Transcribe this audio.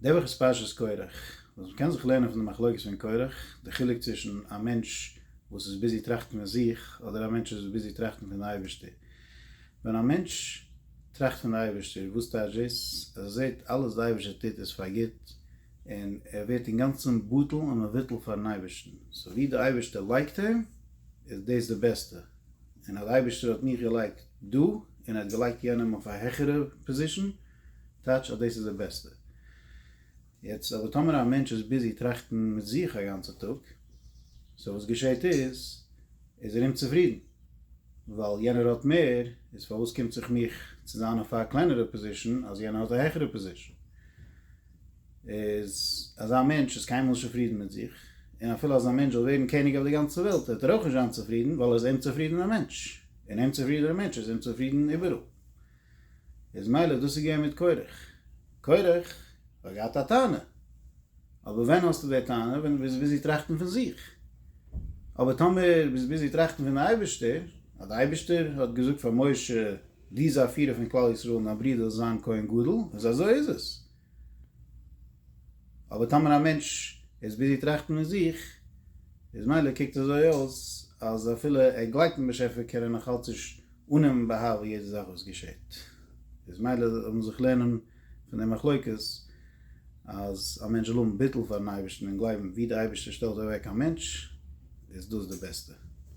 די וואך איז פרשת קורח, וואס מ'קען זיך לערנען פון די מחלוקת פון קורח, די חילוק צווישן א מענטש וואס איז ביזי טראכטן פון זיך, אדער א מענטש וואס איז ביזי טראכטן פון די אייבערשטער. ווען א מענטש טראכט פון די אייבערשטער, וואס טייטש דאס? אז ער זעט אלעס די אייבערשטער טוט איז פאר גוט, און ער ווערט אינגאנצן בטל ומבוטל פארן אייבערשטן. סאו ווי די אייבערשטער לייגט אים, איז דאס די בעסטע. און אז די אייבערשטער האט מיך געלייגט דא, און ער האט געלייגט יענעם אויף א העכערע פאזישן, טייטש אז דאס איז די בעסטע. יעצט אבער טאמער א מענטש איז ביזי טראכטן מיט זיך א גאנצע טאג, סאו וואס געשעהט איז, איז ער אומצופרידן ווייל יענער האט מער, איז פארוואס קומט זיך מיך צו זיין אויף א קלענערע פאזישן אז יענער האט א העכערע פאזישן? איז אזא מענטש איז קיינמאל נישט צופרידן מיט זיך, און אפילו אז א מענטש זאל ווערן קעניג אויף די גאנצע וועלט וועט ער אויך נישט זיין צופרידן ווייל ער איז אומצופרידענע מענטש, און אומצופרידענע מענטש איז אומצופרידן איבעראל. איז מילא דאס איז געווען מיט קורח. קורח האט געהאט א טענה. אבער ווען האסטו די טענה? ווען דו ביסט ביזי טראכטן פון זיך. אבער טאמער ביסט ביזי טראכטן פון די אייבערשטער, אז די אייבערשטער האט געזאגט פאר משה, דו זיי פירער פון כלל ישראל און דיין ברודער זאל זיין כהן גדול, איז אזוי איז עס. אבער טאמער א מענטש איז ביזי טראכטן אין זיך, איז מילא קוקט אזוי אויס אז אפילו ער גלייבט אין באשעפער קען ער נאך אלץ נישט אננעמען באהבה יעדע זאך וואס געשעט, איז מילא זאל מען זיך לערנען פון די מחלוקת אז א מענטש זאל האבן ביטול פארן אייבערשטן און גלייבן ווי די אייבערשטער שטעלט אוועק א מענטש איז דאס די בעסטע.